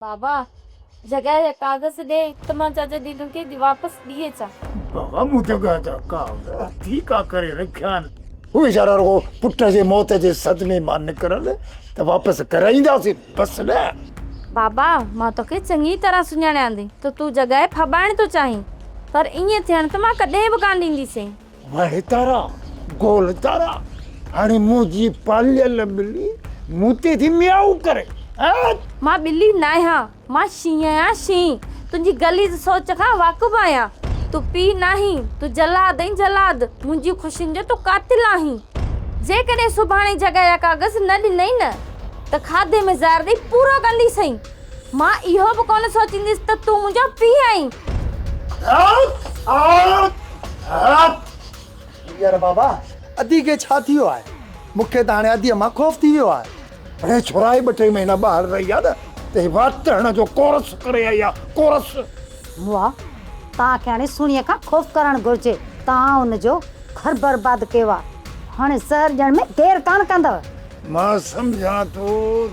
بابا! جڳهه جا ڪاغذ ڏي ته مان چاچا جيجو کي واپس ڏئي اچان. بابا! مون جڳهه جا ڪاغذ ٺيڪا ڪري رکيا آهن. هو ويچارا رڳو پٽ جي موت جي صدمي مان نڪرن ته واپس ڪرائينداسين، بس نه! بابا! مان توکي چڱي طرح سڃاڻيان ٿي ته تون جڳهه ڦٻائڻ ٿو چاهين، پر ائين ٿيڻ ته مان ڪڏهن به ڪانه ڏينديسين. وهي تارا، گول تارا، هاڻي منهنجي پاليل ٻلي مون تي ٿي ميائو ڪري، ايت! مان ٻلي ناهيان، مان شينهن آهيان، شينهن! تنهنجي غليظ سوچ کان واقف آهيان. تون پيء ناهين، تون جلاد آهين، جلاد! منهنجيون خوشين جو تون قاتل آهين. جيڪڏهن سڀاڻي جڳا يا ڪاغذ نه ڏنئين نه ته کاڌي ۾ زهر ڏئي پورو ڪنديسئين. مان اهو به ڪونه سوچينديس ته تون منهنجو پيء آهين. يار بابا ادي کي ڇا ٿي ويو آهي؟ مون کي ته هاڻي اديء مان خوف ٿي ويو آهي. هي ڇورائي ٻه ٽي مهينا ٻاهر رهي آ نه ته هي واٽ هڻڻ جو ڪورس ڪري آئي آ، ڪورس. مئا، توهان کي هاڻي سهڻيء کان خوف ڪرڻ گهرجي. توهان هن جو گهر برباد ڪيو آ. هاڻي زهر ڏيڻ ۾ دير ڪانه ڪندؤ. مان سمجهان ٿو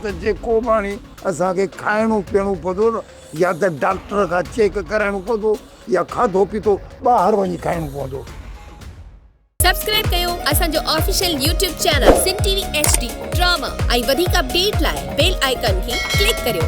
ته جيڪو به هاڻي اسان کي کائڻو پيئڻو پوندو يا ته ڊاڪٽر کان چيڪ ڪرائڻو پوندو يا کاڌو پيتو ٻاهر وڃي کائڻو پوندو. سبسڪرائب ڪيو اسان جو official YouTube channel Sindh T V H D drama ۽ وڌيڪ اپڊيٽ لاء بيل آئيڪان کي ڪلڪ ڪريو.